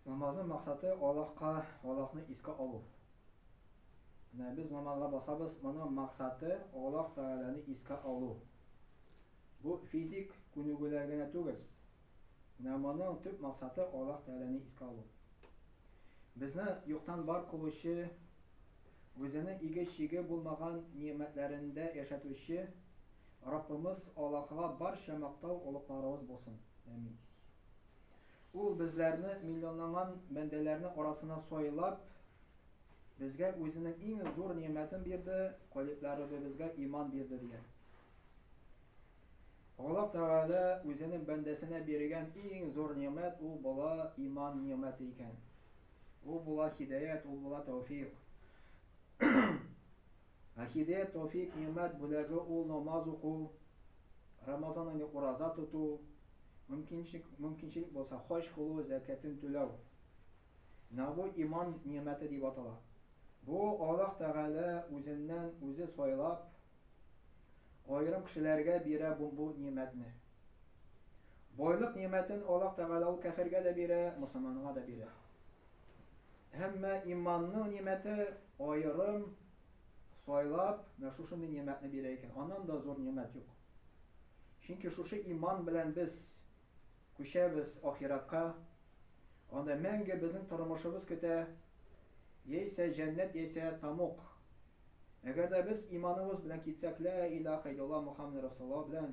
Намазның максаты Аллаһка, Аллаһны искә алу. Менә без намазга басабыз, моның максаты Аллаһ Тәгаләне искә алу. Бу физик күнегүләр генә түгел. Менә моның төп максаты Аллаһ Тәгаләне искә алу. Безне юктан бар кылучы, үзенең иге-чиге булмаган ниъмәтләрендә яшәтүче Раббыбыз Аллаһыга барча мактау олыкларыбыз булсын. Әмин. Ул безләрне, миллионланган бәндәләрне арасына сайлап, безгә Үзенең иң зур нигъмәтен бирде, калибләребебезгә иман бирде, дигән. Аллаһ Тәгалә Үзенең бәндәсенә биргән иң зур нигъмәт ул була иман нигъмәте икән. Ул була һидаят, ул була тәүфик. Ахиде, Тәүфик, Нигъмәт бүләге ул намаз уку, Рамазан айны ураза тоту, мөмкинчелек булса хаҗ кылу, зәкятен түләү. Менә бу иман нигъмәте дип атала. Бу Аллаһ Тәгалә үзеннән үзе сайлап, аерым кешеләргә бирә бу нигъмәтне. Байлык нигъмәтен Аллаһ Тәгалә ул кәфергә дә бирә, мөселманга да бирә. Әмма иманның нимәте аерым сайлап, менә шушындый нимәтне бирә икән. Аннан да зур нимәт юк. Чөнки шушы иман белән без күчәбез ахиратка. Анда мәңге безнең тормышыбыз көтә. Яисә җәннәт, яисә тамук. Әгәр дә без иманыбыз белән китсәк, ла иляха илла Мухаммад Расулла белән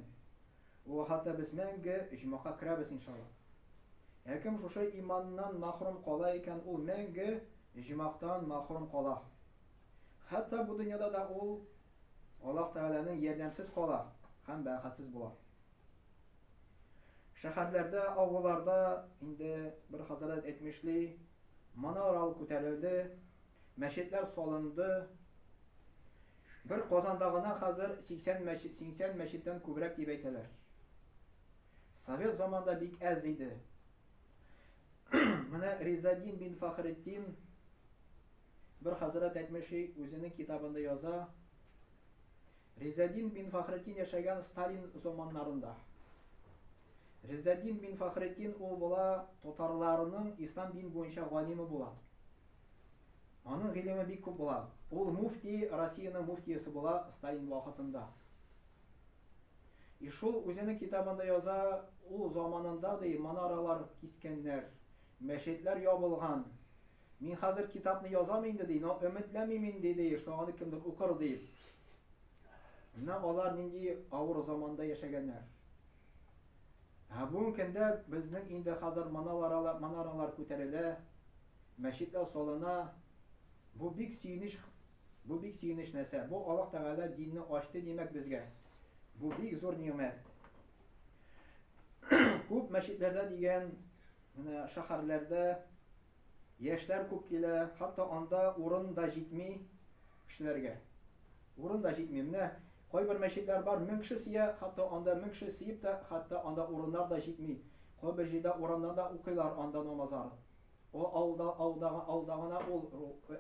Ул хәтта без мәңге оҗмахка керәбез иншалла. Ә кем шушы иманнан мәхрүм кала икән, ул мәңге оҗмахтан мәхрүм кала. Хәтта бу дөньяда да ул Аллаһ Тәгаләнең ярдәмсез кала һәм бәхетсез була. Шәһәрләрдә, авылларда инде бер хәзрәт әйтмешли, манаралар күтәрелде, мәчетләр салынды. Бер Казанда гына хәзер 80 мәчет, сиңсән мәчеттән күбрәк дип әйтәләр. Совет заманда бик әз иде. Менә Ризадин бин Фахретдин бер хәзрәт әйтмеши, үзенең китабында яза. Ризадин бин Фахретдин яшәгән Сталин заманнарында. Ризадин бин Фахретдин ул була татарларының ислам дин буенча галиме була. Аның гыйлеме бик күп була. Ул муфти, Россиянең муфтиясе була Сталин вакытында. И шул үзенең китабында яза, ул заманында, ди, манаралар кискәннәр, мәчетләр ябылган. Мин хәзер китапны язам инде, ди, но өметләмим инде, ди, что аны кемдер укыр дип. Менә алар нинди авыр заманда яшәгәннәр. Ә бүгенге көндә безнең инде хәзер манаралар күтәрелә, Мәчетләр салына, бу бик сөенеч Бу бик сөенеч нәрсә, бу Аллаһ Тәгалә динне ачты димәк безгә, бу бик зур нигъмәт. Күп мәчетләрдә дигән менә шәһәрләрдә яшьләр күп килә, хәтта анда урын да җитми кешеләргә. Урын да җитми. Менә кайбер мәчетләр бар, 1000 кеше сия, хәтта анда 1000 кеше сиеп тә, хәтта анда урыннар да җитми. Кайбер җирдә урамнарда укыйлар анда намазлар. О, алда, алда, алда гына ул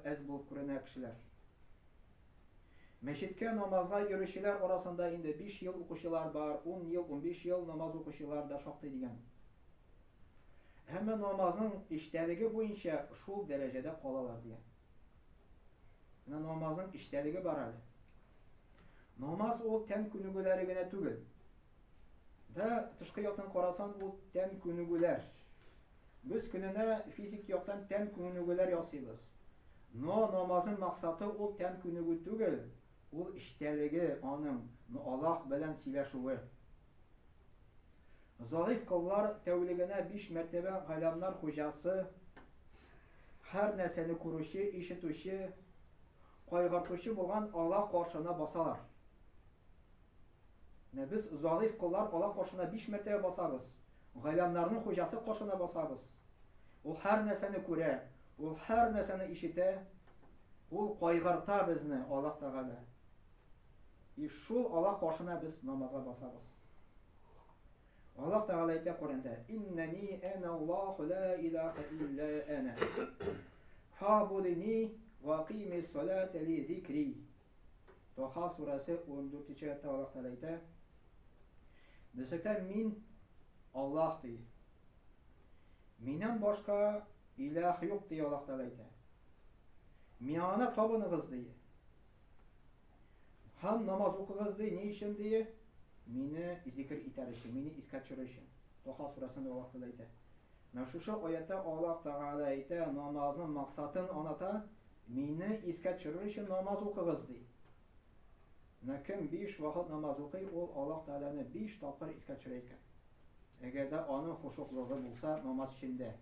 әз булып күренә кешеләр. Мәчеткә намазга йөрүчеләр арасында инде 5 ел укучылар бар, 10 ел, 15 ел намаз укучылар да шактый дигән. Әмма намазның эчтәлеге буенча шул дәрәҗәдә калалар дигән. Менә намазның эчтәлеге бар әле. Намаз ул тән күнегүләре генә түгел. Да тышкы яктан карасан бу тән күнегүләр. Без көненә физик яктан тән күнегүләр ясыйбыз. Но намазның максаты ул тән күнегү түгел, ул эчтәлеге аның, но Аллаһ белән сөйләшүе. Зариф кыллар тәүлегенә биш мәртәбә галәмнар хуҗасы, һәр нәрсәне күрүче, ишетүче, кайгыртучы булган Аллаһ каршына басалар. Менә без Зариф коллар алар кашына биш мәртәбә басабыз, Гайләмнарның хуҗасы кашына басабыз. Ул һәр нәрсәне күрә, ул һәр нәрсәне ишетә, ул кайгырта безне, Аллаһ Тәгалә. И шул Аллаһ кашына без намазга басабыз. Аллаһ Тәгалә әйтә Коръәндә: "Иннәни әнә Аллаһу ла илаһа илля әнә. Фабудини ва кимис салата ли зикри." Таха сурәсе 14 нче аятта Аллаһ Тәгалә әйтә, Белсәктән мин Аллаһ ди. Миннән башка иләх юк ди Аллаһ Тәгалә әйтә. Миңа табыныгыз ди. Һәм намаз укыгыз ди, ни өчен ди? Мине зикр итәр өчен, мине искә төшерер өчен. Таха сурәсендә Аллаһ Тәгалә әйтә. Менә шушы аятьтә Аллаһ Тәгалә әйтә, намазның максатын аната, мине искә төшерер өчен намаз укыгыз, ди. Менә кем биш вакыт намаз укый, ул Аллаһ Тәгаләне биш тапкыр искә төшерә икән. Әгәр дә аның хушуклыгы булса намаз эчендә.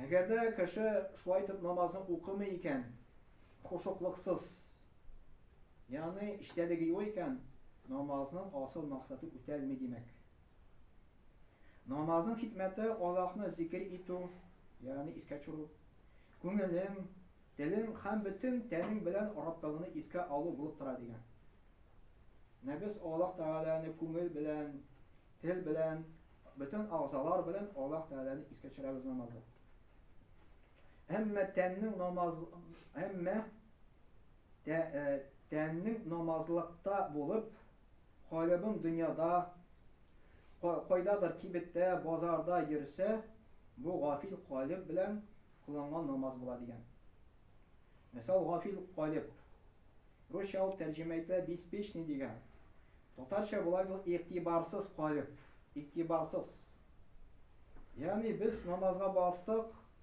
Әгәр дә кеше шулай итеп намазны укымый икән, хушуклыксыз, Ягъни, эчтәлеге юк икән, намазның асыл максаты үтәлми димәк. Намазның хикмәте Аллаһны зикер итү, ягъни искә төшерү, күңелең, телең һәм бөтен тәнең белән Раббыңны искә алу булып тора дигән. Менә без Аллаһ Тәгаләне күңел белән, тел белән, бөтен агъзалар белән Аллаһ Тәгаләне искә төшерәбез намазда. Әмма тәннең намаз, әмма Тә, э, тәннең намазлыкта булып, калыбың дөньяда, кайдадыр кибеттә, базарда йөрсә, бу гафил калыб белән кылынган намаз була дигән. Мәсәл, гафил калыб. Русча ул тәрҗемә итә беспечный дигән. Татарча була бу игътибарсыз калыб, игътибарсыз. Ягъни без намазга бастык,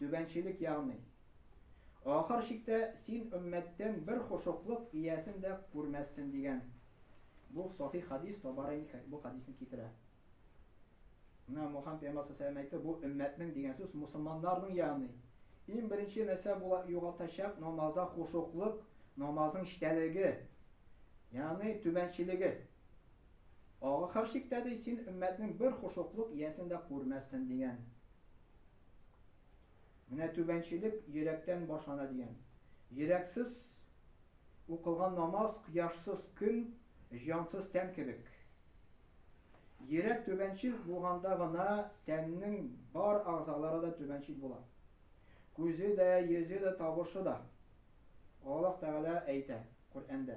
Түбәнчелек ягъни. Ахыр чиктә син өммәттән бер хошуклык иясен дә күрмәссен, дигән. Бу сахих хәдис, Табарани бу хәдисне китерә. Менә Мухаммад пәйгамбәр саллаллаһу әйтте, бу өммәтнең дигән сүз мусулманнарның ягъни. Иң беренче нәрсә була югалтачак намаза хошуклык, намазның эчтәлеге, ягъни түбәнчелеге. Ахыр чиктә ди син өммәтнең бер хошуклык иясен дә күрмәссен, дигән. Менә түбәнчелек йөрәктән башлана дигән. Йөрәксез укылган намаз, кояшсыз көн, җансыз тән кебек. Йөрәк түбәнчел булганда гына тәннең бар агъзалары да түбәнчел була. Күзе дә, йөзе дә, тавышы да. Аллаһ Тәгалә әйтә Коръәндә.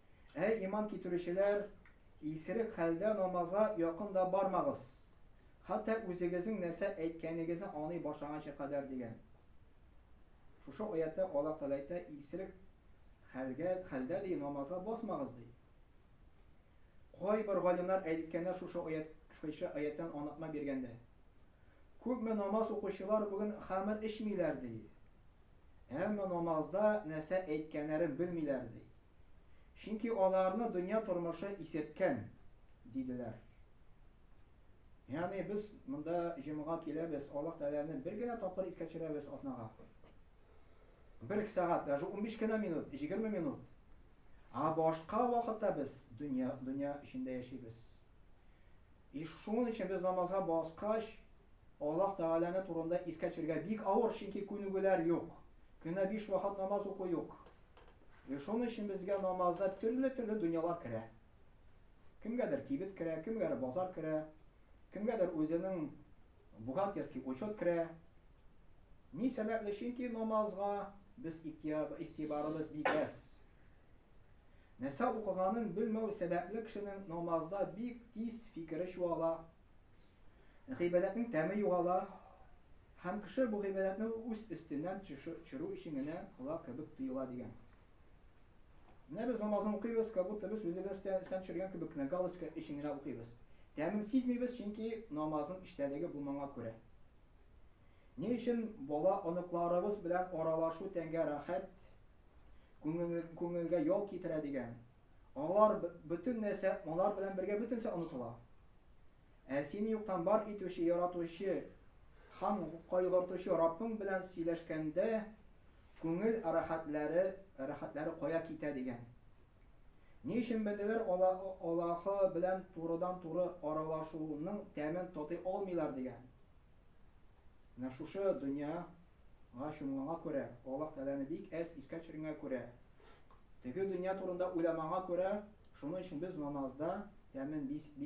Әй иман китерүчеләр, исерек хәлдә намазга якын да бармагыз, хәтта үзегезнең нәрсә әйткәнегезне аный башлаганчы кадәр, дигән. Шушы аятта Аллаһ Тәгалә әйтә, исерек хәлгә, хәлдә ди намазга басмагыз, ди. Кайбер галимнар әйткәннәр шушы аят, шушы аяттан анатма биргәндә. Күпме намаз укучылар бүген хамыр эчмиләр, ди. Әмма намазда нәрсә әйткәннәрен белмиләр, ди. Чөнки аларны дөнья тормышы исерткән, диделәр. Ягъни без монда җомга киләбез, Аллаһ Тәгаләне бер генә тапкыр искә төшерәбез атнага. Бер сәгать, даже 15 кенә минут, 20 минут. А башка вакытта без дөнья дөнья эчендә яшибез. И шуның өчен без намазга баскач, Аллаһ Тәгаләне турында искә төшерергә бик авыр, чөнки күнегүләр юк. Көненә биш вакыт намаз уку юк. И шуның өчен безгә намазда төрле-төрле дөньялар керә. Кемгәдер кибет керә, кемгәдер базар керә, кемгәдер үзенең бухгалтерский учет керә. Ни сәбәпле? Чөнки намазга без игътибарыбыз бик әз. Нәрсә укыганын белмәү сәбәпле кешенең намазда бик тиз фикере чуала, гыйбадәтнең тәме югала һәм кеше бу гыйбадәтне үз өстеннән төшерү өчен генә кыла кебек тоела, дигән. Менә без намазны укыйбыз, как будто без үзебез өстән төшергән кебек кенә галочка өчен генә укыйбыз. Тәмен сизмибез, чөнки намазның эчтәлеге булманга күрә. Ни өчен бала оныкларыбыз белән аралашу тәнгә рәхәт, Күңел, күңелгә ял китерә дигән. Алар бөтен нәрсә, алар белән бергә бөтенсә онытыла. Ә сине юктан бар итүче, яратучы һәм кайгыртучы Раббың белән сөйләшкәндә күңел рәхәтләре, рәхәтләре кая китә дигән. Ни өчен бәндәләр Аллаһы белән турыдан-туры аралашуның тәмен татый алмыйлар дигән. Менә шушы дөнья Аңа чумганга күрә, Аллаһ Тәгаләне бик әз искә төшергәнгә күрә, теге дөнья турында уйламаганга күрә, шуның өчен без намазда тәмен бик